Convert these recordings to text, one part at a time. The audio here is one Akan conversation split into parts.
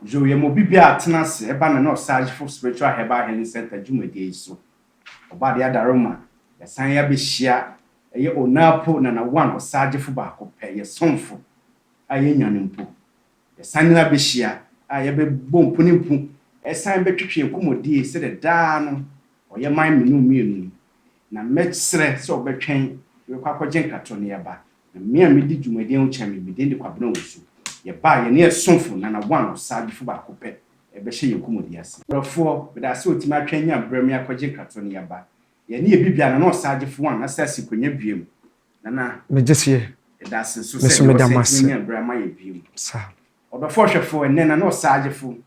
Joe yɛ ma obi bi a tena ase ba na na ɔsage fo Spiritual Herbal Healing Center dwumadie yi so. Ɔba de adaro ma, yɛsan ya bɛhyia, ɛyɛ Onapo na na one ɔsage fo baako pɛ, yɛ somfo a yɛ nya no mpo. Yɛsan nyina bɛhyia a yɛ bɛ bɔ mpu ne mpu, ɛsan bɛ twetwe nkɔmɔdie sɛdeɛ daa no ɔyɛ man menu mmienu yi. Na mɛ serɛ sɛ ɔbɛtwɛn, yɛ bɛkɔ akɔgye nkratɔ na yɛ ba. Na me a midi dwumadi ho kyɛn me, me din de Kwabena Owusu. Yɛbaa yɛne yɛn somfo, Nana One Osagyefo baako pɛ, rebɛhyɛ yɛn kɔmmɔdi ase. Brɔfoɔ, meda ase a otumi atwɛn nya berɛ me akɔgye nkratoɔ no yɛba. Yɛne yɛ bi bia, Nana Osagyefo One asan asi nkonnwa biom. Nana, Megye seɛ. yɛda ase nso Me sɛ nso deɛ meda mo wasan atumi ase. anya berɛ ama yɛ biom. Saa. Ɔdɔfoɔ Hwɛfoɔ, ɛnnɛ Nana Osagyefo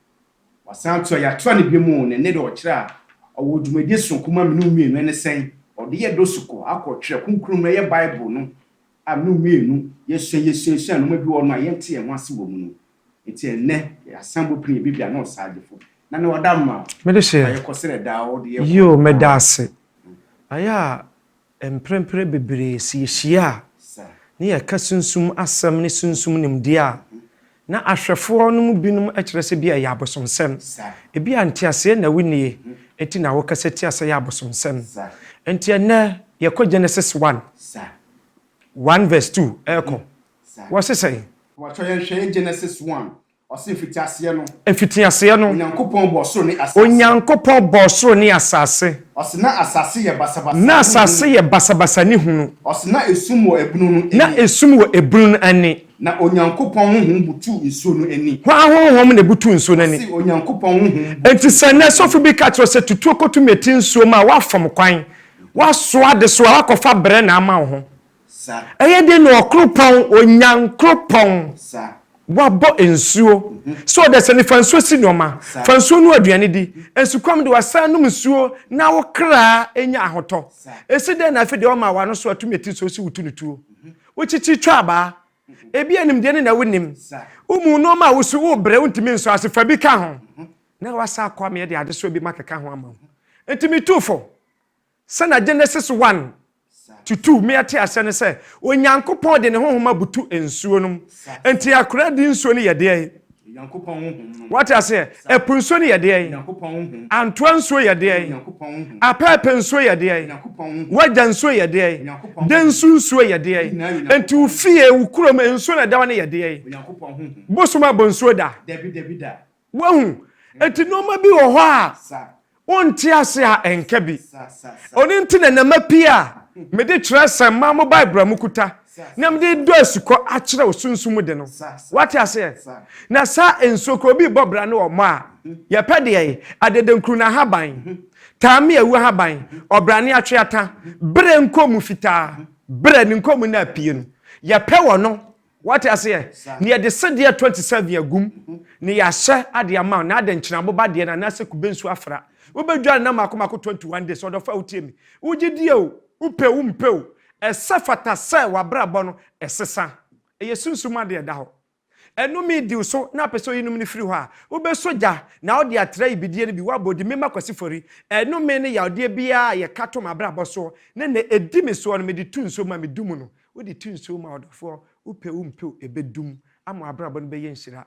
Wɔasan ato a yɛatoa no biom oo, ne nne de ɔkyerɛ a ɔwɔ dwumadie soronko ma me ne wo mmienu, ɛne sɛn? Ɔde yɛ dosukɔ akɔ twerɛ kronkron mu, ɛyɛ Bible no a me ne wo mmienu yɛsua yɛsuasua nnoɔma bi wɔ hɔ no a yɛnte yɛn ho ase wɔ mu no. Enti ɛnnɛ yɛasan bɔ pini, ɛbɛbi a na ɔsaa gyefo na na wada mma o, Mede hyɛ, ma yɛkɔ sɛdeɛ daa ɔde yɛ kɔ no. Yio, meda ase. Ayɛ a Mprempren bebree sɛ yehyia a, na yɛka sunsum asɛm ne sunsum nimdeɛ a, na ahwɛfoɔ no mu binom kyerɛ sɛ ebia ɛyɛ abosomsɛm. Ebia nteaseɛ na wonnie, enti na wɔkasa tia sɛ ɛyɛ abosomsɛm. Enti ɛnnɛ, yɛkɔ Genesis one, one verse two rekɔ, wɔse sɛn? Wɔkyerɛ yɛn hwɛe Genesis one, Ɔse mfitiaseɛ no. Mfitiaseɛ no. Onyankopɔn bɔɔ soro ne asase. Onyankopɔn bɔɔ soro ne asase. Ɔse na asase yɛ basabasa ne hunu. Na asase yɛ basabasa ne hunu. Ɔse na esum wɔ ebunu no ani. Na esum wɔ ebunu no ani. Na Onyankopɔn honhom butuu nsuo no ani. Hwan honhom na ebutuu nsuo no ani? Ɔse Onyankopɔn honhom butuu nsuo no ani. Enti sɛ nnɛ sɔfo bi ka kyerɛ wo sɛ tutuo kɔtu mmɛti nsuo mu a, woafom kwan. Woasoa adesoa, woakɔfa brɛ na ama wo ho. Sa. Ɛyɛ den na ɔkoropɔn, Onyankoropɔn, Sa. wabɔ nsuo, sɛ ɔda sɛ ne fa nsuo si nnoɔma, Sa. fa nsuo noa aduane di, nsukɔm de wasan nom nsuo na wo kraa anya ahotɔ, Sa. ɛsi dɛn na afei deɛ ɔmaa w'ano so atumi ati nsuo si wo tunutuo, Mhm. wokyikyi twa abaa, Mhm. ebia nimdeɛ ne na wonim, Sa. wo mu nnoɔma a wosu wobrɛ wontumi nsɔ ase fa bi ka ho, Mhm. na woasan akɔ ameɛ de adesoa bi makeka ho ama wo, enti metu fo. Sɛnea Genesis one to two me ɛte aseɛ ne sɛ, Onyankopɔn de ne honhom abutu nsuo nom. Enti akora di nsuo no yɛ deɛn? Onyankopɔn honhom nom. Wate aseɛ? Ɛpo nsuo no yɛ deɛn? Onyankopɔn honhom. Antoa nsuo yɛ deɛn? Onyankopɔn honhom. Apɛɛpɛ nsuo yɛ deɛn? Onyankopɔn honhom. Wagya nsuo yɛ deɛn? Onyankopɔn honhom. Densu nsuo yɛ deɛn? Ne nyinaa yɛ Onyankopɔn Enti wo honhom. fie, wo kurom, nsuo no a ɛda hɔ no yɛ deɛn? Onyankopɔn honhom. Bosom abɔ nsuo da? Dabi, dabi da. Wahu? Enti nnoɔma bi wɔ hɔ a wonte ase a ɛnka bi. Ɔno nti na nneɛma pii a mede twerɛsɛm ma mo Bible a mokuta na mede dɔ asukɔ akyerɛ wo sunsum mu de no. Woate aseɛ? Na saa nsuo kora obi rebɔ bra ne wɔmmɔ a, yɛpɛ deɛ ye, adedankuru no ahaban, taame awu ahaban, ɔbrane atweata, berɛ nkɔnmu fitaa, berɛ ne nkɔnmu no a apue no. Yɛpɛ wɔno. Wate aseɛ? Na yɛde sedeɛ twenty seven agu mu, na yɛahyɛ adeɛ ama wo, na adɛn nti na aboba deɛ no anaasɛ kube nsuo afra? Wobɛdware nna mmaako mmaako twenty one days, ɔdɔfo a wotie me. Wogye die o, wopɛ o, wompɛ o, ɛsɛ fata sɛ w'abrabɔ no ɛsesa. Ɛyɛ sunsum mu adeɛ a ɛda hɔ. Ɛnome di wo so na wopɛ sɛ woyi nom no firi hɔ a, wobɛsɔ gya, na wode atra yibidie no bi, woabɔ din, Mema Kwasi Fori. Ɛnome ne yawodeɛ biara a yɛka to m'abrabɔ soɔ, ne nea ɛdi me soɔ no, mede to nsuo mu a medu mu no. Wode tu nsuo ma ɔdɔfoɔ, wopɛ wo mpe o, ɛbɛdum ama w'abrabɔ no bɛyɛ nhyira.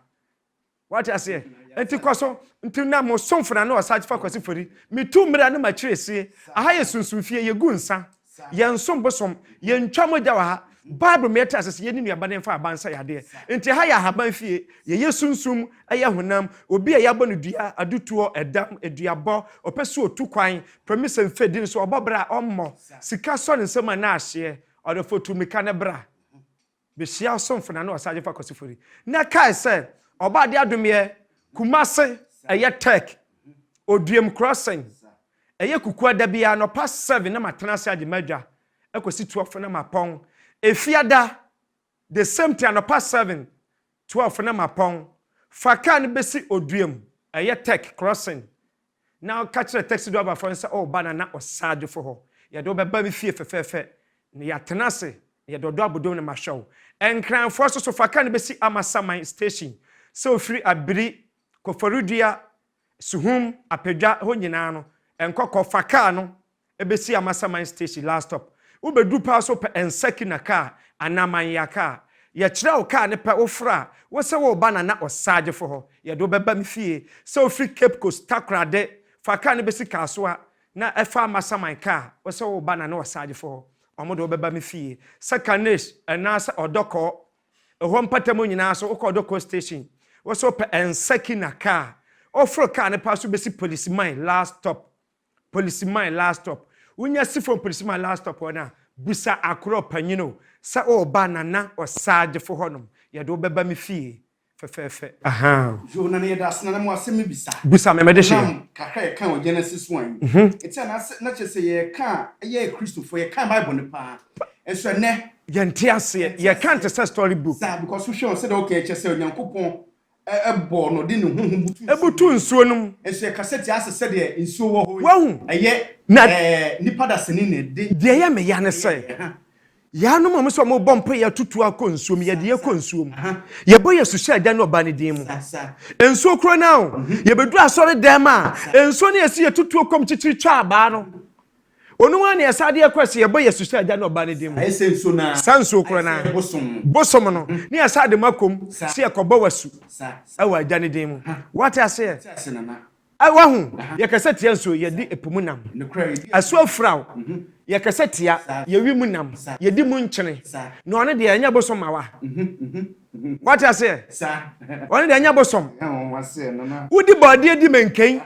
Wate aseɛ? Enti kɔ so. Nti na mo somfo na ne Ɔsagyefa Kwasi Fori. Me tu mmira ne m'akyire sie. Aha yɛ sunsum fie, yɛ gu nsa. Yɛ nsom bosom. Yɛ ntwa mogya wɔ ha. Bible ma yɛ te ase sɛ yɛ ne nuaba ne mfa aban nsa yɛ adeɛ. Nti ha yɛ ahaban fie. Yɛ yɛ sunsum, ɛyɛ honam. Obi a yɛ abɔ no dua, adutoɔ, ɛdam, aduabɔ, ɔpɛ sɛ ɔtu kwan, Pɛmisa mfɛdi nso ɔbɔ bra a ɔmmɔ, sika sɔ ne nsam a na ahyeɛ, ɔdɔfoɔ tu mmirika na bra bɛhyia ɔsomfo na ne ɔsagye fa Kwasi Fori. Na kae sɛ ɔbɔ adeɛ adomeɛ, Kumase, ɛyɛ Tech, Oduam Crossing, ɛyɛ Kukua da biara anɔpa 7 na matena ase agye m'adwa kɔsi 12 na mapɔn, Efiada The same thing anɔpa seven, twelve na mapɔn, fa car no bɛsi Odua mu, ɛyɛ tech crossing, na ka kyerɛ taxi driver foɔ no sɛ ɔreba Nana Osaagye foɔ hɔ, yɛde wo bɛba me fie fɛfɛɛfɛ, na yɛatena ase, na yɛde ɔdɔ abodom na mahwɛ wo. Nkranfoɔ nso so, fa car no bɛsi Amasaman station, sɛ wofiri Abiri, Koforidua, Suhum, Apadwa hɔ nyinaa no, nkɔ kɔ, fa car no Ɛbɛsi Amasaman station, last stop. Wobɛduru paa so pɛ Nsakina kaa anaa Manyea kaa. Yɛkyerɛ wo kaa no pɛ, wofrɛ a, wo se woreba Nana Ɔsagyefo hɔ. Yɛde wo bɛba me fie. Sɛ wofiri Cape Coast, Takorade, fa kaa no bɛsi Kasoa na fa Amasaman kaa, wo se woreba Nana Ɔsagyefo hɔ. Wɔde wo bɛba me fie. Sɛ Kanes anaasɛ Ɔdɔkɔɔ, ɛhɔ mpata mu nyinaa so, wokɔ Ɔdɔkɔɔ station, wo se wopɛ Nsakina kaa. Woforo kaa no paa so bɛsi Police Mine, last stop. Polisi man last stop wonya si fam polisi man last stop hɔ no a bisa akorɔ panyin o sɛ ɔreba nana ɔsagyefo hɔ nom yɛde wo bɛba me fie fɛfɛɛfɛ. Ahaa. Yo nana yɛda ase nana mo asɛm me bisa. Bisa me mede hyeɛ. Nam kakra yɛ kan wɔ Genesis one yi ɛti anaa sɛ na kyerɛ sɛ yɛ ka a yɛ yɛ Christofoɔ yɛ kan bible no paa nso ɛnɛ yɛnte aseɛ yɛ kan te sɛ story book. Saa because wo hwɛ o sɛdeɛ wo ka yi kyerɛ sɛ Onyankopɔn Ɛbɔ no de ne honhom butu nsuo. Ɛbutu nsuo no mu. Nso ɛkasa tia sɛ sɛdeɛ nsuo wɔ hɔ yi. Wahu. Ɛyɛ na. Nnipa dasani na ɛde. Deɛ ɛyɛ me ya ne sɛ. Yɛanom wɔn sɛ wɔbɔ mpaeɛ atutu akɔ nsuo mu, yɛde kɔ nsuo mu. Yɛbɔ yɛn suhyɛda ne Ɔba no din mu. Nsuo korɔ no ara o. Yɛbɛduru asɔre dɛm a, nsuo no a yɛsi yɛtutuo kɔ mu kyikyiri twa abaa no. Ɔno ara ne yɛsa adeɛ kora sɛ yɛbɔ yɛsu sɛ Agya ne Ɔba ne din mu. Sa nsuo korɔ no ara, bosom no, ne yɛsa ade ma kom sɛ yɛkɔbɔ w'asu wɔ Agya ne din mu. Woate aseɛ? Wahu? Yɛkasa tia nsuo, yɛde po mu nam. Asu afira wo. Yɛkasa tia, yɛwe mu nam, yɛdi mu nkyene. Na ɔno deɛ, ɛnyɛ bosom ma wa. Woate aseɛ? Ɔno deɛ, ɛnyɛ bosom. Wodi bɔɔdeɛ, di mankan,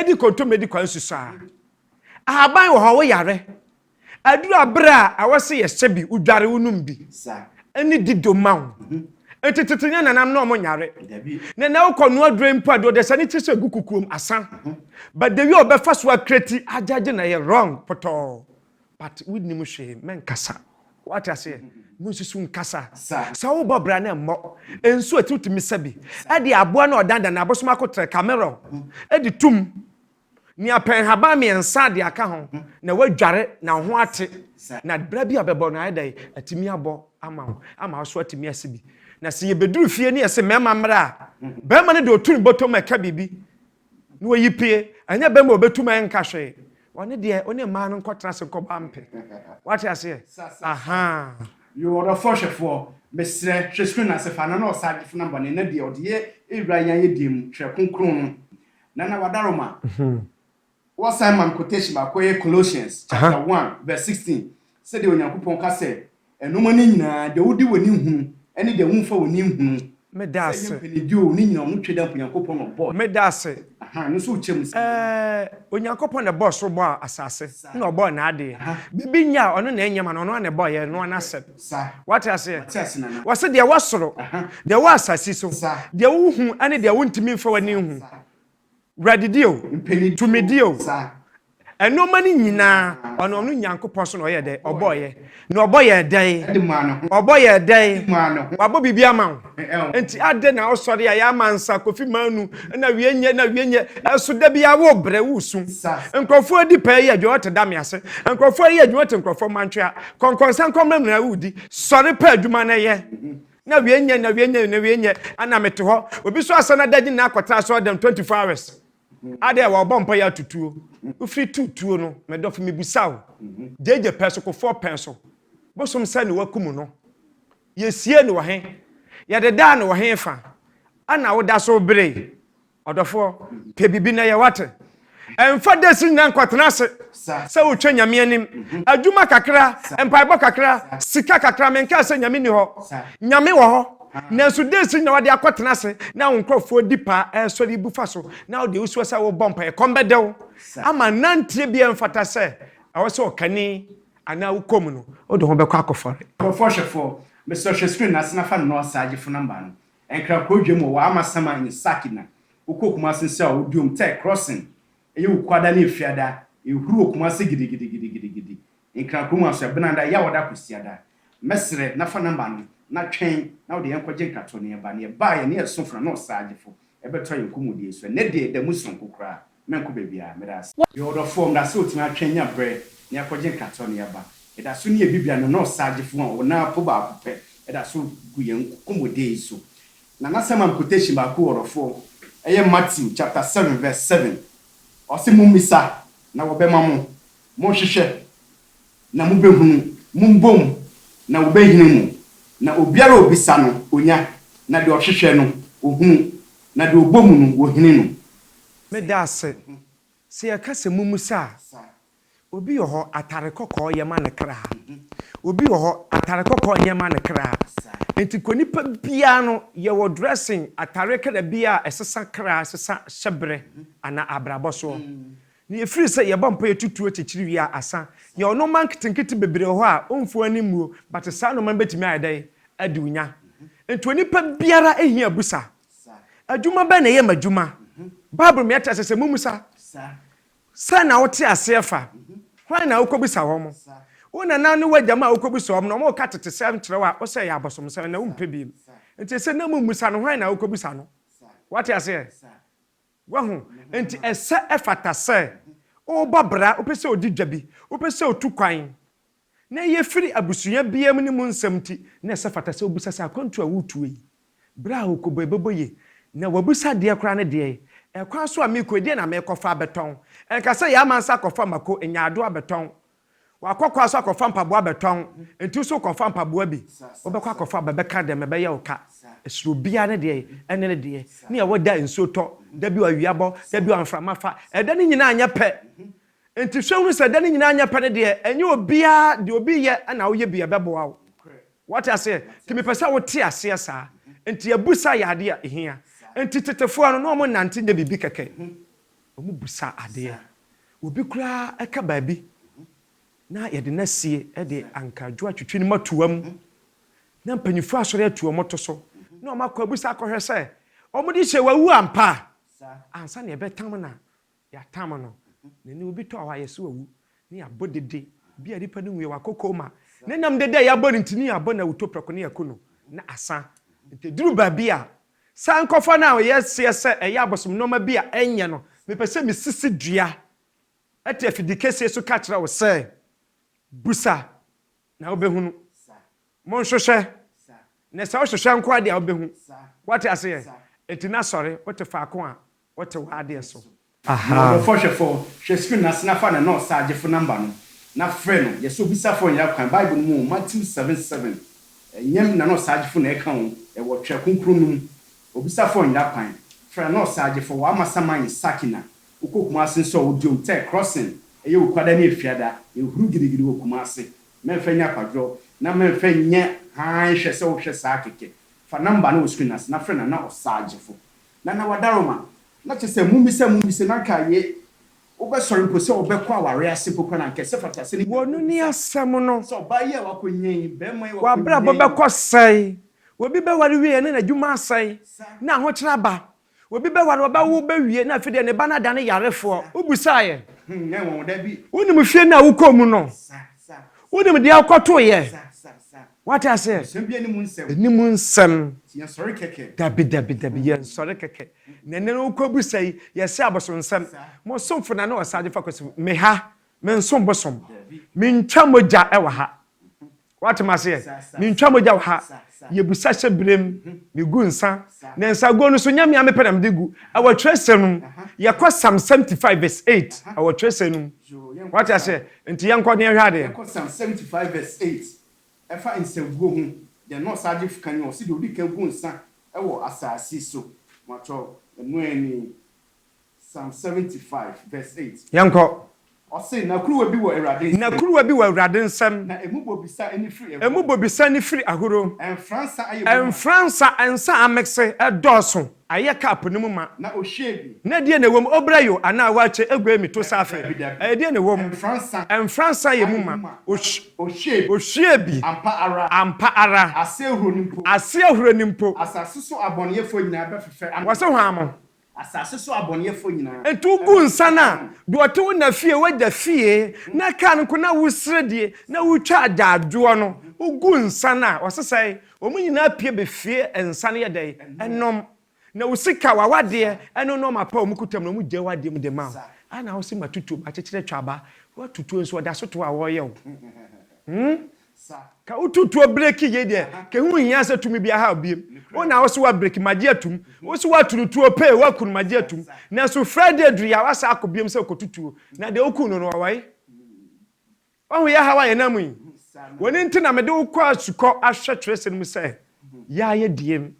di kontomire, di kwansu saa. Ahaban wɔ hɔ, woyare. Aduru aber a awɔ se yɛhyɛ bi, wodware, wonom bi. Ɛne di do ma wo. Ntsi tsetse nye nanam na ɔmo nyare. Na nna wokɔ noa dure mpo a, dɛ ɔdze hyɛ ne tsir sɛ gu kukuom, asa. But the way ɔbɛfa so akra ti agyagye na ɛyɛ wrong pɔtɔɔ. But wonnim hwee, mɛnkasa. Wɔate aseɛ? Monsusu nkasa. Sɛ wobɔ bra no mmɔ. Nsuo a ɛte wotumi sa bi de aboa no a ɔdandan no abosom akotrɛ, cameron, de tom. Nea pɛ nhaban mmiɛnsa de aka ho na woadware na wo ho ate, na bra bi a bɛbɔ no ayɛ dɛn? Atumi abɔ ama wo ama wo so atumi asi bi. Na sɛ yɛbɛduru fie ne yɛse mmarima mmra a, barima no de ɔtu ne bɔtɔ mu ɛka biribi na ɔyi pue. Ɛnyɛ barima a ɔbɛtu ma ɛnka hwee. Ɔno deɛ ɔne mmaa no nkɔtena ase nkɔbɔ ampe. Woate aseɛ? Ahaa. Yoo ɔdɔfoɔ hwɛfoɔ, mesrɛ hwɛ screen no ase fa na na ɔsa agye fonam bɔne na deɛ ɔde yɛ ɛwura yɛn ayɛdeɛ mu, twerɛ kronkron no. Nana Wadaroma, Wɔ san ma me quotation baako ɛyɛ Colossians chapter one verse sixteen sɛdeɛ Onyankopɔn ka sɛ ɛnoɔma no nyinaa deɛ wode w'ani nhunu ɛne deɛ wonfa w'ani nhunu sɛ ɛyɛ mpɛnidie oo ne nyinaa ɔno twe dɛ Onyankopɔn na ɔbɔɔ ɛɛ no nso wokyɛ mu sɛ. Ɛɛ Onyankopɔn na ɛbɔɔ soro bɔɔ asase ɛna ɔbɔɔ naadeɛ bibi nyɛ a ɔno na ɛnyɛ ma no ɔno ara na ɛbɔɔ yɛ ɛnoa n'asɛm. Sa. Wate aseɛ? Mate ase, Nana. Wɔse deɛ ɛwɔ soro, Aha. deɛ ɛwɔ asase so, Sa. deɛ wohu ne deɛ wontumi mfa w'ani nhu, Sa. wuradidie o, Mpanidie o, tumidie o, Sa. ɛnoɔma no nyinaa, Sa. ɔno, ɔno Nyankopɔn so na ɔyɛɛ dɛn? Ɔbɔɔyɛ. Na ɔbɔ yɛɛ dɛn? Ɛde maa ne ho. Ɔbɔ yɛɛ dɛn? Ɛde maa ne ho. Wabɔ biribi ama wo. Enti adɛn na wosɔre a yɛ amansa, Kofi Manu, na wie nyɛ, na wie nyɛ, ɛso da biara wobrɛ, wosu. Nkurɔfoɔ adi pɛɛ yɛ adwuma wɔte dame ase, nkurɔfoɔ yɛ adwuma wɔte nkurɔfoɔ mmantwea, kɔnkɔnsa nkɔmmena nyinaa wodi, sɔre pɛ adwuma no yɛ, na wie nyɛ, na wie nyɛ, na wie nyɛ, ɛna mete hɔ, obi so asane adagye nyinaa akɔtra asɔre dɛm 24 hours, adɛn a wɔbɔ mpaeɛ ato tuo, wofiri tu tuo no, me dɔfo mebisa wo, gyegye pɛn so, kofoɔ pɛn so, bosom sɛn na wakum no? Yesiee no wɔ he? Yɛdedaa no wɔ he fa a na woda so bere? Ɔdɔfoɔ, pɛ biribi na yɛ wate. Ɛmfa desi nyinaa nkɔtena ase sɛ wotwa Nyame anim. Adwuma kakra, mpaebɔ kakra, sika kakra, menkaa sɛ Nyame nni hɔ. Nyame wɔ hɔ, nanso desi nyinaa wode akɔtena ase na wo nkurɔfoɔ di paa ɛresɔre yi bu fa so na wode wusua sɛ wobɔ mpaeɛ. Kɔm bɛdɛ wo ama nanteɛ biara mfata sɛ ɛwɔ sɛ ɔkani Anaa wo kɔ mu no, wo de ho bɛkɔ akɔfɔre. Nkurɔfoɔ hwɛfoɔ, mesrɛ hwɛ screen no ase na fa Noah Saagye phone number no. Nkra Krodwam wɔ Waama Saman ne Saki na wokɔ Kumasi nso a Odiom Tech Crossing ɛyɛ wo Kuada ne Efiada ɛhuru wɔ Kumasi gidigidigidigidigidi Nkran kurom aso Ɛbenada, Yawoda, Kwasiada. Mɛsrɛ na fa number no na twɛn na wode yɛn kɔgye nkratoɔ na yɛba na yɛbaeɛ na yɛsoo fo na Noah Saagye fo ɛbɛtɔ yɛn kɔmmudiɛ so. Ɛnnɛ deɛ, da mu sononko koraa. Mɛnkɔ baabiara. Meda ase. Yɛwɔ ɔdɔfoɔ, meda ase ɔtumi atwɛn nya berɛ na yɛakɔgye nkate ɔne aba. Yɛda so ne yɛn Bibia no Nurse Sagyefo a ɔwɔ n'apo baako pɛ da so gu yɛn kɔmmudiɛ yi so. Na n'asɛmam quotation baako wɔ ɔdɔfoɔ, ɛyɛ Matthew chapter seven verse seven. Ɔse, Mommisa, na wɔbɛma mo. Monhwehwɛ, Na mobɛhunu, mombɔ mu, na wɔbɛhini mo, na obiara a ɔbisa no, ɔnya, na deɛ ɔhwehwɛ no, ɔhunu, na deɛ ɔbɔ mu no, wɔhini no. Meda ase sɛ yɛka sɛ mommisa a. Obi wɔ hɔ, atare kɔkɔɔ yɛ ma ne kra. Obi wɔ hɔ, atare kɔkɔɔ nyɛ ma ne kra. Enti kɔ nipa biara no, yɛwɔ dressing, atareɛ kra biara a ɛsesa kra, ɛsesa hyɛberɛ anaa abrabɔ soɔ. Na ɛfiri sɛ yɛbɔ mpaeɛ tutu ɔkyekyere wie a asa, yɛwɔ nnoɔma nketenkete bebree wɔ hɔ a ɔmfo ani mmuo, but saa nnoɔma no bɛtumi ayɛ dɛn adi wo nya? Nti onipa biara hia abusa. Adwuma bɛn na ɛyɛ m'adwuma? Bible ma yɛte aseɛ sɛ mommisa. Sɛn na wote aseɛ fa? Hwan na wokɔbisa wɔn? Wo nana ne w'agya ma wokɔbisa wɔn na wɔka tetesɛm kyerɛ wo a wosɛ ɛyɛ abosomsɛm na wompɛ bio. Nti ɛsɛ na mommisa no hwan na wokɔbisa no. Woate aseɛ? Wahu? Enti ɛsɛ, ɛfata sɛ ɔba bra, ɔpɛ sɛ ɔdi dwa bi, ɔpɛ sɛ ɔtu kwan, na ɛyɛ firi abusua biara mu ne mu nsɛm nti, na ɛsɛ fata sɛ ɔbisa sɛ, Akwantuo a woretuo yi, bra a ɔrekɔbɔ yi, ɛbɛbɔ yie? Na wabisa adeɛ koraa ne deɛ, Ɛkwan so a merekɔ yi, deɛn na merekɔfa abɛtɔn? Ɛnka sɛ, Yɛama nsa akɔfa mako, nyaadoo abɛtɔn, Wakɔ kwa so akɔfa mpaboa bɛtɔn, nti wo so wokɔfa mpaboa bi, wobɛkɔ akɔfa ba bɛka dɛm, ɛbɛyɛ wo ka. Ɛsoro obiara ne deɛ ɛne ne deɛ, ne ɛwɔ da nsuo tɔ, da bi ɔawia bɔ, da bi ɔmframa fa, ɛda no nyinaa nyɛ pɛ. Nti hwɛ hunu sɛ ɛda no nyinaa nyɛ pɛ no deɛ, ɛnyɛ obiara deɛ obi yɛ na woyɛ bi a ɛbɛboa wo. Wate aseɛ? Nti mepɛ sɛ wote aseɛ saa. Nti abusa yɛ adeɛ a ɛhia. Nti tetefoɔ no, na wɔnnante nyɛ biribi kɛkɛ. Wɔbisa adeɛ. Obi koraa ka baabi na yɛde no asie de anka dwoa twitwi no ma tua mu na mpanyinfoɔ asɔre atu wɔn to so na wɔn akɔ abisa akɔhwɛ sɛ wɔn de hyɛ wawu ampa ansa na yɛbɛtam na yɛatam no na ɛnɛ obi tɔ hɔ a yɛse wawu na yɛabɔ dede bi a nipa no nwuiɛ wakɔ koma na ɛnam dede a yɛabɔ no nti ne yɛabɔ no awutoprɛko na yɛaku no na asa nti ɛduru baabi a Sankofa no a ɔyɛ seɛ sɛ ɛyɛ abosom nnoɔma bi a ɛnyɛ no, mepɛ sɛ mesisi dua ɛte afidi kɛseɛ so ka kyerɛ wo sɛ, Busa, na wobɛhunu. Monhwehwɛ, na sɛ wohwehwɛ nko ara deɛ a wobɛhu. Woate aseɛ? Enti na sɔre, wote faako a Wɔte wo adeɛ so. Na ɔdɔfɔɔ hwɛfɔɔ, hwɛ screen no ase na fa nɛnɔɔsa agyefo number no na frɛ no, yɛsɛ obisafɔɔ nyɛ akwan, bible no mu o, Matthew seven seven, ɛnyɛ nɛnɔɔsa agyefo na ɛka o, ɛwɔ twɛ kronkron no mu, obisafɔɔ nyɛ akwan, frɛ nɛnɔɔsa agyefɔɔ, wɔ ama saman yɛ Sakina, wokɔ Kumasi nso a odiom tɛ crossing, ɛyɛ okwada ne efiada, ɛhuru gidigidi wɔ Kumasi, mɛnfɛ nyɛ akwadworɔ, na mɛnfɛ nyɛ hann hwɛ sɛ wohwɛ saa kɛkɛ, fa number no wɔ screen no ase na frɛ nana ɔsa agyefo, Nana Wadaroma, na kyɛ sɛ mummisa mummisa na anka aye, wobɛsɔre mpo sɛ wobɛkɔ aware ase mpo koraa na anka ɛsɛ fata sɛ ne kunu no bisa sɛ ɔbaa yi a wakɔnya yi, barima yi a wakɔnya yi. W'abrabɔ bɛkɔ sɛn? Obi bɛware wie na n'adwuma asɛe na ahokyere aba. Obi bɛware, ɔbɛwo ba wie na afei deɛ ne ba no adane yarefoɔ. Wobisaeɛ? Ɛnyɛ nwonwa, dabi. Wonim fie no a wokɔɔ mu no? Wonim deɛ wokɔtoeɛ? Wate aseɛ? Anim nsɛm. Dabi, dabi, dabi, yɛnsɔre kɛkɛ. Na ɛnɛ no wokɔ bu sɛ yi, yɛse abosonsɛm. Mo somfo na ne Ɔsaagye Fakwasi, me ha, mensom bosom. Mentwa mogya wɔ ha. Wate me aseɛ? Mentwa mogya wɔ ha. Yɛbusa hyɛ berem, megu nsa. Na nsaguo no nso, nyɛ me a mepɛ na mede gu. Ɛwɔ twerɛsɛm no mu. Yɛkɔ Psalm 75 vs 8, ɛwɔ twerɛsɛm no mu. Wate aseɛ? Nti yɛnkɔ na yɛnhwɛ adeɛ. Ɛfa nsaguo ho deɛ na ɔsaagye fka nie ɔse deɛ ɔdika gu nsa wɔ asaase so matwɔ ɛno ɛne psalm seventy five verse eight. Yɛnkɔ. Ɔse na kuruwa bi wɔ awurade nsam. Na kuruwa bi wɔ awurade nsam. Na ɛmu bobisa ne firi ahuro. Ɛmu bobisa ne firi ahuro. Ɛnfra nsa ayɛ woma. Ɛnfra nsa nsa amekse ɛdɔɔso. Ayɛ cup no mu ma. Na ɔhwiee bi. Na ɛdeɛn na ɛwɔ mu? Ɔbra yo anaa waakye aguai me to saa afei? Dabidabi. Ɛdeɛn na ɛwɔ mu? Mfra nsa. Mfra nsa yɛ mu ma. Ɔhwi, Ɔhwiee bi. ɔhwiee bi. Ampa ara. Ampa ara. Ase ahuro no mpo. Ase ahuro no mpo. Asase so abɔneyɛfoɔ nyinaa bɛfefɛ ama. Wɔse hwan mo? Asase so abɔneyɛfoɔ nyinaa. Enti wogu nsa no a, deɛ ɔte wo na fie, w'agya fie, na car no nko na woresrɛ die, na woretwa agyaadwoɔ no, wogu nsa no a, ɔse sɛn? Wɔn nyinaa pue ba fie nsa no yɛ dɛn? Ɛnom. Na wo sika, w'awadeɛ, ɛne nnoɔma pa a wɔn kuta mu no, wɔgyae w'adeɛ mu de ma wo. Adɛn na wose matutuo, makyekyere atwa aba? Woatutuo nso, ɛda so to a wɔreyɛ wo. Hmm? Ka wotutuo breki yei deɛ, ka ɛho nhia sɛ tumi bi ahaw bio. Wo na wose woabreki, magye atom. Wose woaturu tuo pee, woakunu, magye atom. Nanso Friday aduru yi a, woasan akɔ bio sɛ kɔtutuo. Na deɛ wokuu no no, ɔwɔe? Wahu yahaw a yɛnam mu yi. W'ani nti na mede wo kɔɔ asukɔ ahwɛ twerɛsɛm no mu sɛ yaayɛ diem.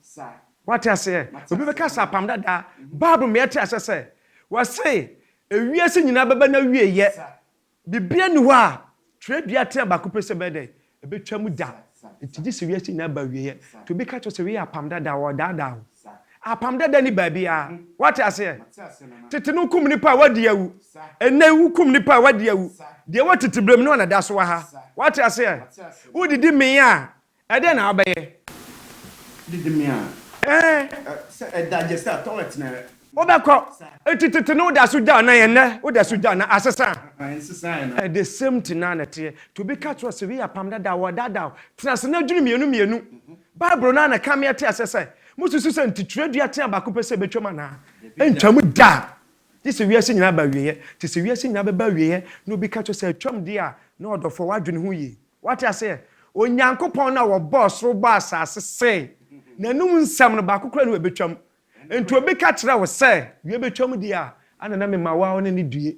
Wate aseɛ? Obi bɛka sɛ apam dadaa. Bible ma yɛte aseɛ sɛ wɔse ewiase nyinaa bɛba n'awieɛ. Biribiara nni hɔ a twerɛdua tea baako pɛ sɛ ɛbɛyɛ dɛn? Ɛbɛtwa mu da. Nti gye sɛ wiase nyinaa ba awieɛ. Nti obi ka kyerɛ wo sɛ wei yɛ apam dadaa, wɔredaadaa wo. Apam dada ni baabiara. Wate aseɛ? Tete no wokum nipa a wadi awu. Ɛnɛ yi wokum nipa a wadi awu. Deɛ ɛwɔ titibrem no na ɛda so wɔ ha. Wate aseɛ? Wodidi mee a, ɛdɛn na wobɛyɛ? Didi mee a, Ɛɛ. ɛ, sɛ ɛda gye sɛ toilet na ɛ. Wobɛkɔ. Enti tete no woda so gya anan, ɛnɛ woda so gya anan. Asesa. Ɛ, nsesaeɛ no. Ɛ, the same thing no ara na ɛteɛ. Nti obi ka kyerɛ wo sɛ wei yɛ apam dada a, wɔredaadaa wo. Tena ase na dwene mmienu mmienu. Bible no ara na ɛka me ate aseɛ sɛ, Mosusu sɛ enti twerɛdua tea baako pɛ sɛ ɛbɛtwam anaa? Ɛntwam da! Gye sɛ wiase nyinaa ba awieeɛ. Te sɛ wiase nyinaa bɛba awieeɛ na obi ka kyerɛ sɛ atwam deɛ a, na ɔdɔfoɔ, woadwene ho yie? Woate aseɛ? Onyankopɔn no a ɔbɔɔ soro bɔɔ asase see N'anom nsɛm no, baako koraa nni hɔ a ɛbɛtwam. Enti obi ka kyerɛ wo sɛ wiɛ bɛtwam deɛ a, ana na mema wo ara wo ne no due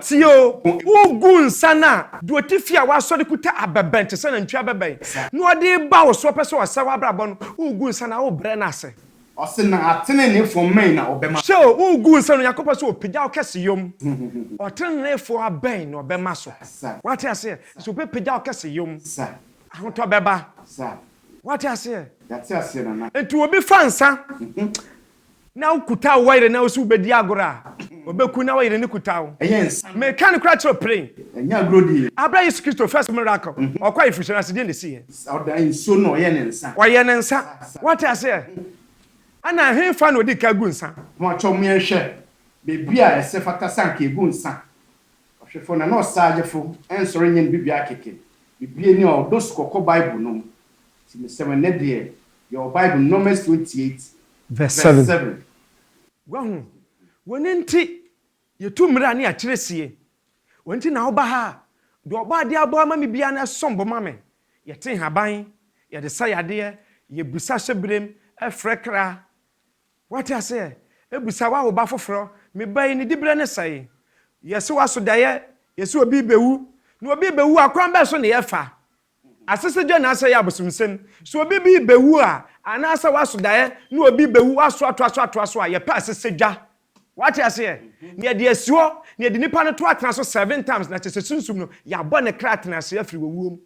Tie o, wogu nsa no a, deɛ ɔte fie a wasɔ de kuta abɛbɛn te sɛ nantwie abɛbɛn na ɔde reba wo so, ɔpɛ sɛ ɔsɛe w'abrabɔ no, wogu nsa no a, wobrɛ no ase. Hwɛ o, wogu nsa no a, Onyankopɔn pɛ sɛ ɔpagya wo kɛseyɔ mu. Ɔteneneefoɔ abɛn na ɔbɛma so. Woate aseɛ? Nso ɔbɛpagya wo kɛseyɔ mu. Ahotɔ bɛba. Woate aseɛ? Enti obi fa nsa na wokutaw wo yere na wo so wubedi agorɔ a, obeku na wo yere no kuta wo. Meka no kora kyerɛ wo peren. Abere a Yesu Kristo, first miracle, ɔkɔ ayeforohyia no ase, deɛn na esiiɛ? Ɔyɛɛ ne nsa. Wate aseɛ? Ɛna hefa na ɔdii kan gu nsa? Yɛwɔ Bible, Numbers twenty eight vs seven. Wahu? W'ani nti yɛtu mmira ne akyerɛsie. W'ani nti na woba ha. Deɛ Ɔbɔadeɛ abɔ ama me biara no ɛsom bo ma me. Yɛte nhaban, yɛde sa yadeɛ, yɛbisa hyɛberem, ɛfrɛ kra. Wate aseɛ? Ɛbisa woawo ba foforɔ, me ba yi ne diberɛ no sɛe? Yɛse woaso daeɛ, yɛse obi rebɛwu. Na obi rebɛwu a, kwan bɛn so na yɛfa? Asesegya na asɛyɛ abosomsɛm. Sɛ obi bi bewu a, anaasɛ waso daeɛ na obi bewu, waso atoa so atoa so a, yɛpɛ asesegya. Wate aseɛ? Na yɛde asi hɔ, na yɛde nipa no to atena so seven times, na kyerɛ sɛ sunsum no, yɛabɔ ne kra tena ase afiri owuo mu.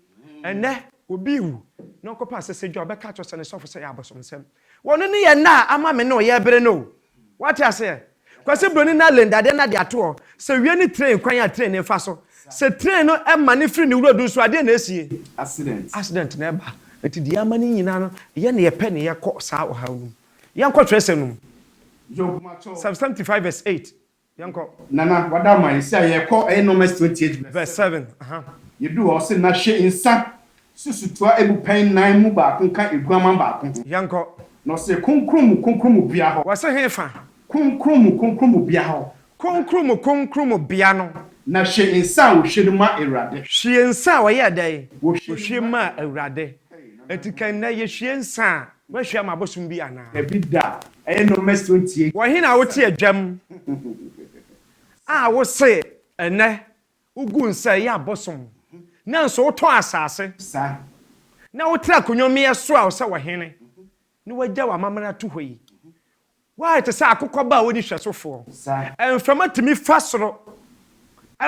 Ɛnnɛ, obi rewu, na ɔkɔpɛ asesegya a, ɔbɛka akyerɛ sɛ ne sɔfo sɛ ɛyɛ abosomsɛm. Wɔno ne yɛ nna a ama me ne wo yɛ bere no o. Wate aseɛ? Kwasi Broni na Linda deɛ na de ato hɔ. Sɛ wie ne train kwan a train no fa so. Sɛ train no ma no firi ne wura du so a deɛ na ɛsie? Accident. Accident na ɛba. Nti deɛ ama ne nyinaa no yɛ na yɛpɛ ne yɛkɔ saa ɔhaw no mu. Yɛnkɔ twerɛsɛm no mu. Job ma kyɛw. Psalm seventy five verse eight. Yɛnkɔ. Nana, wada ama yɛn. Sɛ yɛrekɔ, ɛyɛ nɔma si 28 vs. Vs 7, aha. Yɛduru hɔ, ɔse, Na hwɛ nsa, susu toa abu pɛn nan mu baako ka aguaman baako ho. Yɛnkɔ. Na ɔse, Kronkron mu Kronkron mu bea hɔ. Wɔse, Hefa? Kronkron mu Kronkron mu bea hɔ. Kronkron mu Kronkron mu bea no. Na hwie nsa a ɔhwie no ma Awurade. Hwie nsa a ɔyɛɛ dɛn? Ɔhwie maa Awurade. Enti ka nnɛ, Yɛhwie nsa a. Woahyia mo abosom bi anaa? Dabi da, ɛyɛ nnommɛ so ntie. Wɔ he na wote adwam a wose ɛnnɛ wogu nsa ɛyɛ abosom nanso wotɔ asase na wotra akonnwa mmeɛ so a wosɛ wɔ hene na woagya w'amammerɛ ato hɔ yi? Woayɛ te sɛ akokɔ ba a ɔnni hwɛsofoɔ. Mframa tumi fa soro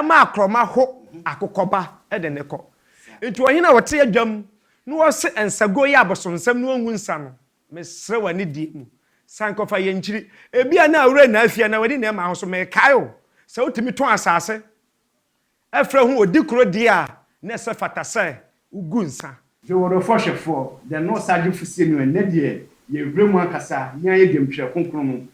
ma akorɔma ho akokɔ ba de no kɔ. Enti ɔhene a ɔte adwam na ɔse nsa guo yɛ abosonsɛm na ɔngu nsa no, mesrɛ wo anidie mu, san kɔfa yɛn nkyiri. Ebia na awura nnaa fie anaa w'ani nnaa mmaa ho so, merekae wo sɛ wotumi tɔn asase Ɛfrɛ ho odi koro deɛ a na ɛsɛ fata sɛ wogu nsa. Dwoodwofoɔ hwɛfoɔ, dɛ no ɔsagye fusie no ɛnnɛ deɛ yɛ wura mu ankasa yan yɛ dwam twerɛ kronkron no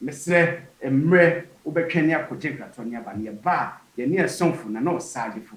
mesrɛ mmerɛ wo bɛ twɛn ne akɔ gye nkratoɔ ne aba no yɛ ba a yɛ ne ɛsomfo na no ɔsagyefo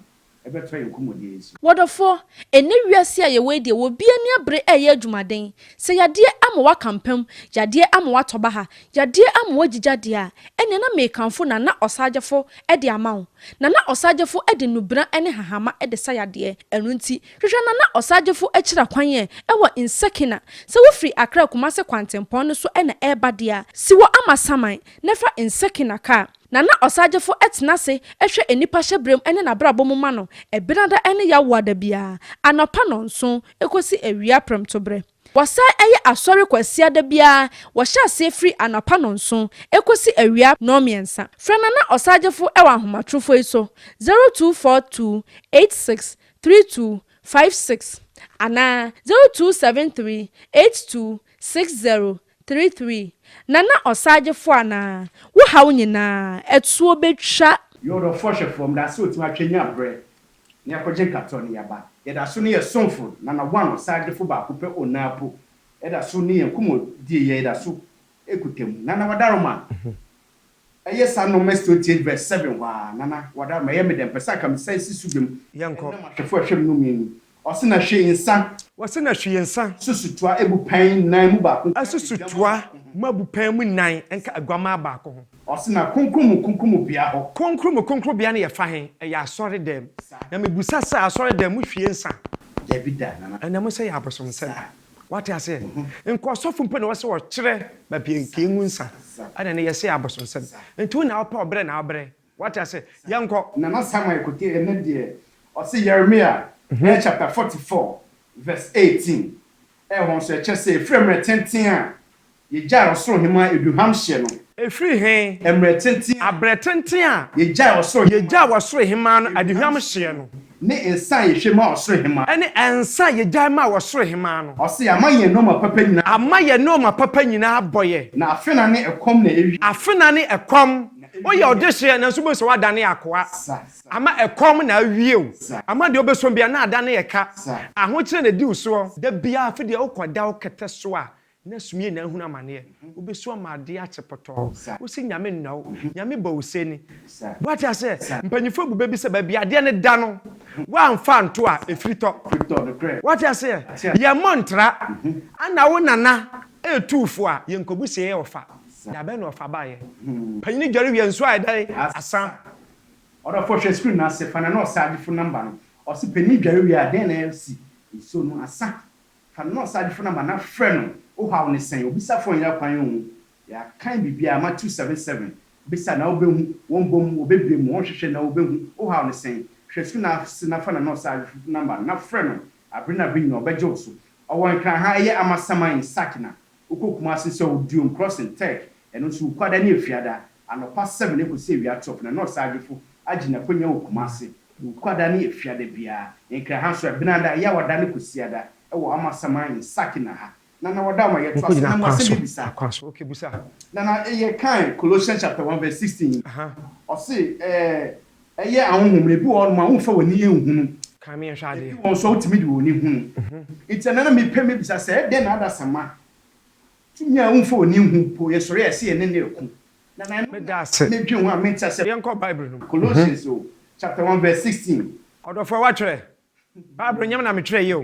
bɛ tɔ yɛ nkɔmɔdie nso. Wɔdɔfoɔ, ɛnnɛ wiase a yɛ wɔ yi deɛ wɔ bi ani abere ɛɛyɛ adwumaden Sɛ yadeɛ ama woaka mpam, yadeɛ ama woatɔ baha, yadeɛ ama woagyigya deɛ a, ɛnneɛ na merekamfo Nana Ɔsaagyefo de ama wo. Nana Ɔsaagyefo de nnubena ne hahama de sa yadeɛ. Ɛno nti, hwehwɛ Nana Ɔsaagyefo akyira kwan ɛ wɔ Nsekina. Sɛ wofiri Accra Kumasi kwantempɔn no so na ɛreba deɛ a, si wɔ Amasaman na fa Nsekina kaa. Nana Ɔsaagyefo tena ase hwɛ nnipa hyɛberɛm ne n'abrabɔ mu ma no, ɛbenada ne yawoada biara, anɔpa nnɔnson, kɔsi awia prɛmtoberɛ. Wɔsan yɛ asɔre Kwasiada biara, wɔhyɛ aseɛ firi anɔpa nnɔnson kɔsi awia nnɔnmiɛnsa. Frɛ Nana Ɔsagyefo wɔ ahomatrofoɔ yi so, 0242863256 anaa 0273826000. Three three Nana ɔsaagyefo anaa? Wo haw nyinaa, atuo bɛtwa. Yɛ ɔdɔfoɔ hwɛ fam, da sɛ ɔtumi atwa nya berɛ na yɛakɔgye nkatoa no yɛba. Yɛda so ne yɛn somfo Nana One ɔsaagyefo baako pɛ Onaa po da so ne yɛn nkɔmmɔdie yɛda so kuta mu Nana Wadaroma. Ɛyɛ saa Numbers twenty eight verse seven hɔ ara, Nana, wada ama ɛyɛ me dɛ, mepɛ sɛ anka mesan si so bio mu, Yɛnkɔ. ɛnnɛ m'ahwɛfo a ɛhwɛ me no mmienu ni, ɔse na hwɛ yi nsa, Ɔse na hwɛ yi nsa. Asusutoa abupɛn nnan mu baako nka Asusutoa aduammaa baako ho. mu abupɛn mu nnan nka aguammaa baako ho. Ɔse na Kronkron mu Kronkromubea hɔ. Kronkron mu Kronkromubea no yɛ fa he? Ɛyɛ asɔredɛm. Sa. Na mebusa sɛ, asɔredɛm, mohwie nsa? Dabi da, Nana. Ɛnɛ mosɛ yɛ abosomsɛm. Sa. Wate aseɛ? Nka ɔsɔfo mpo na ɔsɛ ɔkyerɛ baabi a nka yɛngu nsa. Ɛna ɛnɛ yɛsɛ yɛ abosonsɛm. Nti wo na wopɛ ɔbrɛ na wobrɛ. Wate aseɛ? Yɛnkɔ. Nana Samuel Kotey ɛnɛ deɛ ɔse Yeremia ɛyɛ chapter forty four verse eighteen ɛhɔ nso ɛkyɛ sɛ efiri mmerɛ tenten a Yegyae Ɔsoro Hemmaa Eduhamhyeɛ no. Ɛfiri he? Mmerɛ tenten a. Aberɛ tenten a. Yegyae Ɔsoro Hemmaa. Yegyae Ɔsoro Hemmaa no aduhamhyeɛ no. Ne nsa a yehwie maa Ɔsoro Hemmaa. Ɛne nsa a yegyae maa Ɔsoro Hemmaa no. Ɔse, Yɛama yɛn nnoɔma papa nyinaa abɔ yɛn. Ama yɛn nnoɔma papa nyinaa abɔ yɛn. Na afena ne ɛkɔm na ewie. Afena ne ɛkɔm. Woyɛ ɔdehyeɛ nanso wobɛhu sɛ woadane akoa. Ama ɛkɔm na awie wo. Ama deɛ wobɛsom biara na adane ɛka. Ahokyerɛ na ɛdi wo soɔ. Da biara afe deɛ wokɔda wo kɛtɛ so a, Na sumie na ahunu amaneɛ. Wobesu ama adeɛ akye pɔtɔɔ. Wosi Nyame nna wo. Nyame bɔ wo sɛni. Wate aseɛ? Mpanyinfoɔ abu bɛ bi sɛ baabi adeɛ no da no, woanfa anto a, efiri tɔ. Wate aseɛ? Yɛn mmɔ ntra. Ana wo nana retu wo fo a, yɛn kɔbu se yɛ ɔfa. Da bɛn na ɔfa baeɛ? Panyini dware wie a, nsuo ayɛ dɛn? Asa. Ɔdɔfoɔ hwɛ screen no ase, fa nana ɔsagyefo number no. Ɔse panyini dware wie a, dɛn na asi? Nsuo no asa. Fa no na ɔsadefo no ama na frɛ no, Wohaw ne sɛn? Obisafo nyɛ kwan nhu, Yɛakan biribiara, Mat. 2:7-7, Bisa na wobehu, Wɔbɔ mu, wobebue mu, Wɔhwehwɛ na wobehu, Wohaw ne sɛn? Hwɛ fi no ase na fa no na ɔsadefo no ama na frɛ no, Bere ne bere nyinaa ɔbɛgye wo so. Ɔwɔ Nkranha, ɛyɛ Amasaman in Sakina. Wokɔ Kumasi nso a, ɔwɔ Duom Crossing, Turk. Ɛno nso, Wukuada ne Efiada, anɔpa 7 ekosi awia 12, na na ɔsadefo agye n'akonya wɔ Kumasi. Wukwada ne Efiada biara, Nkraha so, Ɛbenada, Yawada ne Kwasiada wɔ Amasaman in Sakina ha. Na na wɔda ma yɛtoa so na mu asɛm bi bisa. Na na yɛ kan Colossians chapter one verse sixteen yi. Ɔse ɛyɛ ahonhom no, ebi wɔ hɔ nom a wonfa wɔn ani nhunu, ebi wɔ nso a wotumi de wɔn ani hunu. Nti ɛnɛ na me pɛ me bisa sɛ ɛdɛn na adasamma tumi a wonfa wɔn ani nhu mpo yɛ sɔre a ɛse yɛne no reko Meda ase. Yɛnkɔ Bible no mu. Ɔdɔfoɔ, woatwerɛ? Bible nyɛ me na metwerɛeɛ o.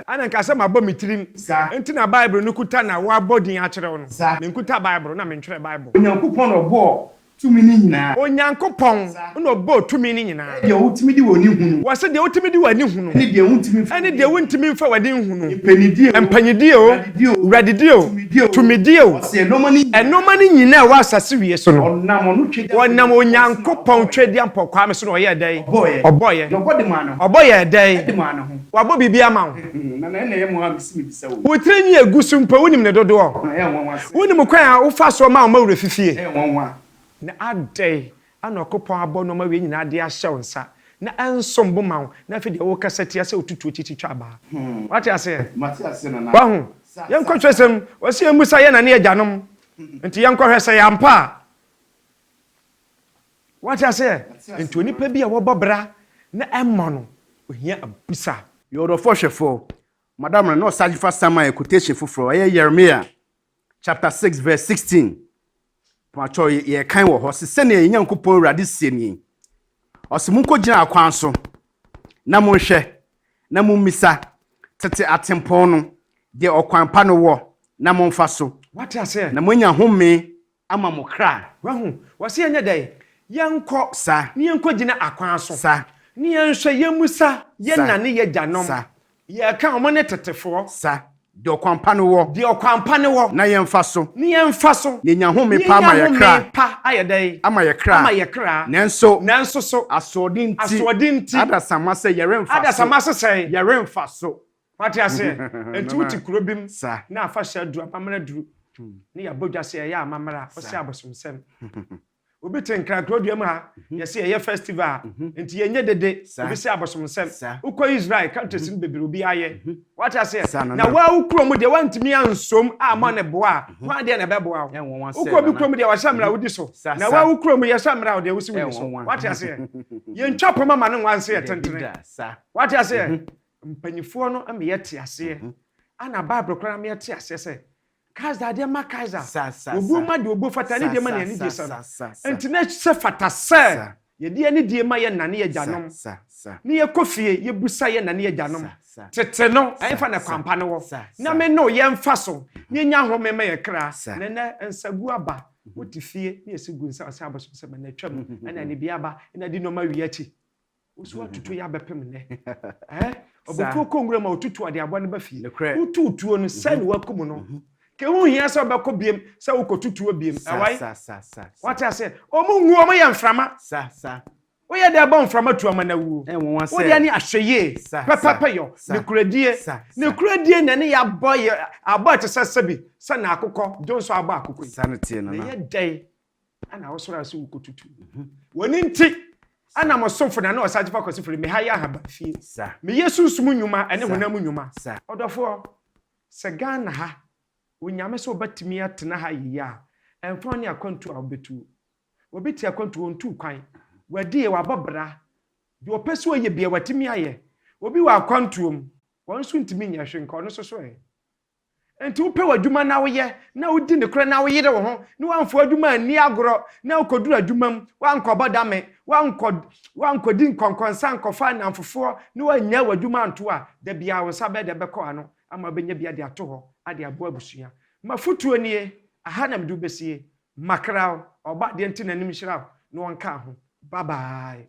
Ɛna nka sɛ mabɔ me tirim nti na Bible no kuta na woabɔ din akyerɛ wo no. Menkuta Bible na mentwerɛ Bible. Onyankopɔn na ɔbɔɔ tumi no nyinaa. Onyankopɔn. Nna ɔbɔɔ tumi no nyina. Ɛne deɛ wotumi de w'ani hu no. Wɔse deɛ wotumi de w'ani hu no. Ɛne deɛ wontumi mfa w'ani hu. Ɛne deɛ wontumi mfa w'ani nhu no. Mpanyidie o. Mpanyidie o. W'radedie o. W'radedie o. Tumidie o. Tumidie o. Ɔse ɛnoɔma no nyina. Ɛnoɔma no nyina a ɛwɔ asase wie so no. Ɔnam ɔno Twediampɔ. Ɔnam Onyankopɔn Twediampɔ Kwame so na ɔyɛɛ dɛn. Ɔbɔɔyɛ. Ɔbɔɔyɛ. Na ɔbɔ de maa ne ho. Ɔbɔ yɛɛ dɛn. De maa ne ho. Wabɔ biribi ama wo. Nana ɛna ɛyɛ moa mese mebisa wo yi. Wo tiri nwi a egu so mpo wonim ne dodoɔ. Ɛyɛ nwanwa sɛ. Wonim kwan a wofa soɔ ma wo mma werɛ fi fie. Ɛyɛ nwanwa. Na adɛn Ana Ɔkopɔn abɔ nnoɔma wei nyinaa de ahyɛ wo nsa, na ɛnsom bo ma wo, na afei deɛ wokasa tia sɛ ɔtutu akyi titwa abaa? Wate aseɛ? Wahu? Yɛnkɔ twerɛsɛm mu. Ɔse yɛmmisa yɛn na ne agyanom. Nti yɛnkɔ hwɛ sɛ ɛyɛ ampa a. Wate aseɛ? Nti onipa bi a wɔbɔ bra na ɛmmɔ no, ɔhia abusaa. Yɛ ɔdɔfoɔ hwɛfoɔ. Madam no, na ɔsage fa Samuel quotation foforɔ, ɛyɛ Yeremia chapter six verse sixteen. Paatwɔ yɛ yɛ kan wɔ hɔ se sɛnea yɛn Nyankopɔn Awurade sie nie. Ɔse monkɔ gyina akwan so na monhwɛ na mommisa tete atempɔn no deɛ ɔkwan pa no wɔ na monfa so. Wate aseɛ? Na moanya homee Ama mo kra. Wahu? Wɔse yɛnyɛ dɛn? Yɛnkɔ. Sa. Ne yɛnkɔ gyina akwan so. Sa. Ne yɛnhwɛ, yɛmmisa. Yɛ Sa. na ne yɛgyanom. Sa. Yɛka wɔn ne tetefoɔ. Sa. Deɛ ɔkwan pa no wɔ. Deɛ ɔkwan pa no wɔ. Na yɛmfa so. Ne yɛmfa so. Ne yɛnya home pa ama yɛ kra. Ne yɛnya home pa ayɛ dɛn? Ama yɛ kra. Ama yɛ kra. Nanso. Nanso so. Asoɔden nti. Asoɔden nti. Adasamma sɛ yɛremfa so. Adasamma sɛ sɛn? Yɛremfa so. Wate aseɛ? Enti wote kuro bi mu na afahyɛ aduru, amammerɛ aduru, ne yɛabɔ dwa sɛ yɛyɛ amammerɛ a, wosɛ abosomsɛm. Obi te nkrankra dua mu ha, yɛse yɛyɛ festival a, enti yɛnyɛ dede, obi sɛ abosomsɛm. Wokɔ Israel countries no bebree obiara yɛ. Wate aseɛ? Na wo ara wo kuro mu deɛ woantumi ansom ammɔ ne bo a, hwan deɛ na ɛbɛboa wo? Wokɔ obi kuro mu deɛ wɔahyɛ mmara wodi so, na wo ara wo kuro mu yɛhyɛ mmara deɛ wose wonni so. Wate aseɛ? Yɛntwa poma ma no nwanse yɛtentene. Wate aseɛ? Mpanimfoɔ no ma yɛte aseɛ, ɛna Bible koraa ma yɛte aseɛ sɛ, Kaesar adeɛ mma Kaesar, obuo ma deɛ obuo fata, ne deɛ ma ne anidie sa no. Enti na ɛsɛ fata sɛ yɛde anidie ma yɛn na ne yɛn agyanom, ne yɛkɔ fie yɛbisa yɛn na ne yɛn agyanom, tete no, ɛhefa na kwan pa no wɔ, na me ne wo yɛmfa so na yɛnya home ma yɛn kra. Na ɛnnɛ nsaguo aba, wote fie na yɛsi gu nsa, wɔse abosomsɛm, ɛna atwam, ɛna anibeaba, ɛna adi nnoɔma wie akyi. Osu atutu yɛ abɛpem nnɛ. Eh, ɔbɛtuo kɔ nwura mu a ɔtutu ɔde aboa no ba fie. Wotu tuo no sɛ ne wakum no. Ke ho hia sɛ ɔbɛkɔ biem sɛ wokɔtu tuo biem. Ɛwae? Wate aseɛ? Ɔmo nwu, ɔmo yɛ mframa. Woyɛ dɛ bɔ mframa tu ama no awuo. Wodeɛ ne ahwɛyie, pɛpɛpɛyɔ, nokorɛdie. Nokorɛdie na ɛne yɛ abɔ yɛ abɔ a ɛte sɛ sɛbi sɛ na akokɔ, Dwonsɔ abɔ akokɔ yi. Na ɛyɛ dɛn Ana wɔsɔre ase wɔkɔtutu me ho. Wɔn nti, ana mo somfo na ne ɔsagyefoɔ kɔsi firi me ha yɛ ahaban fie. Meyɛ sunsum nnwuma ne honam nnwuma. Ɔdɔfoɔ, sɛ Ghana ha Onyame sɛ wobɛtumi atena ha yie a, ɛmfa wo ne akwantuo a wobɛtuo. Obi te akwantuo ɔntuu kwan. Wɔadie, wɔabɔ bra. Deɛ ɔpɛ sɛ ɔyɛ biara, watumi ayɛ. Obi wɔ akwantuo mu, ɔno nso ntumi nyɛ hwee, nka ɔno nso so ɛ? Enti wopɛ w'adwuma na woyɛ, na wodi nokorɛ na woyere wo ho, na woamfa w'adwuma anni agorɔ, na wokɔduru adwuma mu, woankɔbɔ dame, woankɔ, woankɔdi nkɔnkɔnsa ankɔfa nnamfofoɔ, na woannyae w'adwuma anto a, da biara wo nsa bɛyɛ dɛ bɛkɔ ano ama wobɛnya bi de ato hɔ de aboa abusua. M'afotuo nie, aha na mede wo bɛsie. Makra wo, Ɔbɔadeɛ nte n'anim nhyira wo na ɔnka ho. Bye bye.